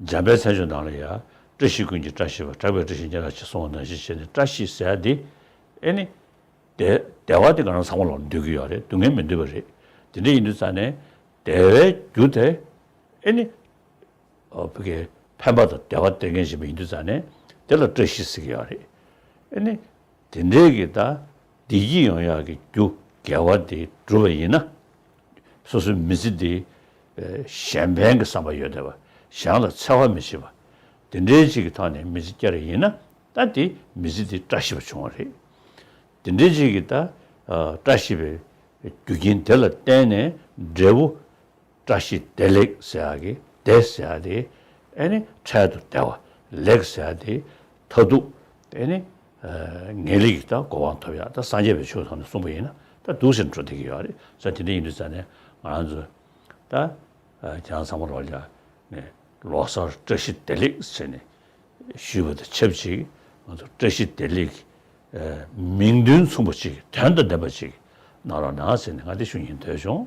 འཇམ་པའི་མཚན་བྱོན་དང་ལ་ཡ། བཀྲ་ཤིས་ཀུན་གྱི་བཀྲ་ཤིས་པ་གྲགས་པའི་བཀྲ་ཤིས་ཉེ་རགས་ཅི་གསུང་བ་ནང་བཞིན་བྱས་ནས་བཀྲ་ཤིས་ཟེར་ཡ་འདི། ཨེ་ནི། བདེ་བ་དེ་ག་རང་ས་མོ་ལོག་ན་འདོད་ཀྱི་ཡོད་རེད་སྡུག་བསྔལ་མི་འདོད་པ་རེད། དེ་འདྲ་ཡིན་དུས་རྩ་ནས། བདེ་བའི་རྒྱུ་དེ། ཨེ་ནི། བུ་གའི་ཕན་པ་དང་བདེ་བ་སྟེར་མཁན་ཞིག་མ་ཡིན་དུས་རྩ་ནས། དེ་ལ་བཀྲ་ཤིས་ཟེར་གྱི་ཡོད་རེད། ཨེ་ནི། དེ་འབྲེལ་གྱི་དག་སྡིག་གི་ཡོང་ཡག་གི་རྒྱུ་འགལ་བ་དེ་སྒྲུབ་པ་ཡིན་ན། སོ་སོའི་མི་ཚེ་འདི་གཞན་ཕན་གྱི་བསམ་པ་ཡོད་དེ་བ་གཞན་ལ་འཚེ་བ་མི་བྱེད་པ། དེ་འབྲེལ་གཅིག་གི་ཐོག་ནས་མི་ཚེ་བསྐྱལ་རེ་ཡིན་ན་ད་དེ་མི་ཚེ་དེ་བཀྲ་ཤིས་པ་བྱུང་བ་རེད། དེ་འབྲེལ་གཅིག་གི་དག་བཀྲ་ཤིས་པའི་རྒྱུ་རྐྱེན་དེ་ལ་བརྟེན་ནས་འབྲས་བུ་བཀྲ་ཤིས་བདེ་ལེགས་ཟེར་ཡག་གི་བདེ་ཟེར་ཡག་དེ་ཨེ་ནི་འཕྲལ་དུ་བདེ་བ་ལེགས་ཟེར་ཡག་དེ་མཐའ་སྡུག་ཨེ་ནི་ངེས་ལེགས་ཀྱི་གོ་བ་ཐོབ་ཡག་ད་སངས་རྒྱས་པའི་ཆོས་ཐོག་ནས་གསུངས་པ་ཡིན་ན་ད་སྡུག་ཟེར་འགྲོ་བསྡད་ཀྱི་ཡོད་རེད་ས་དེ་འདྲ་ཡིན་དུས་ས་ནས་ང་རང་ཚོ་ད་ཁྱེད་རང་ཚང་མ་རོགས་ཀྱང་ནས་ལོ་གསར་བཀྲ་ཤིས་བདེ་ལེགས་ཟེར་ནས་ཞུས་པ་དང་ཆབས་ཅིག་ང་ཚོ་བཀྲ་ཤིས་བདེ་ལེགས་ཀྱི་མིང་དོན་མཚུངས་པ་ཅིག་དོན་དང་ལྡན་པ་ཅིག་གནང་རོགས་གནང་ཟེར་ནས་ང་དེ་ཞུ་ཉེན་དོན་བྱུང།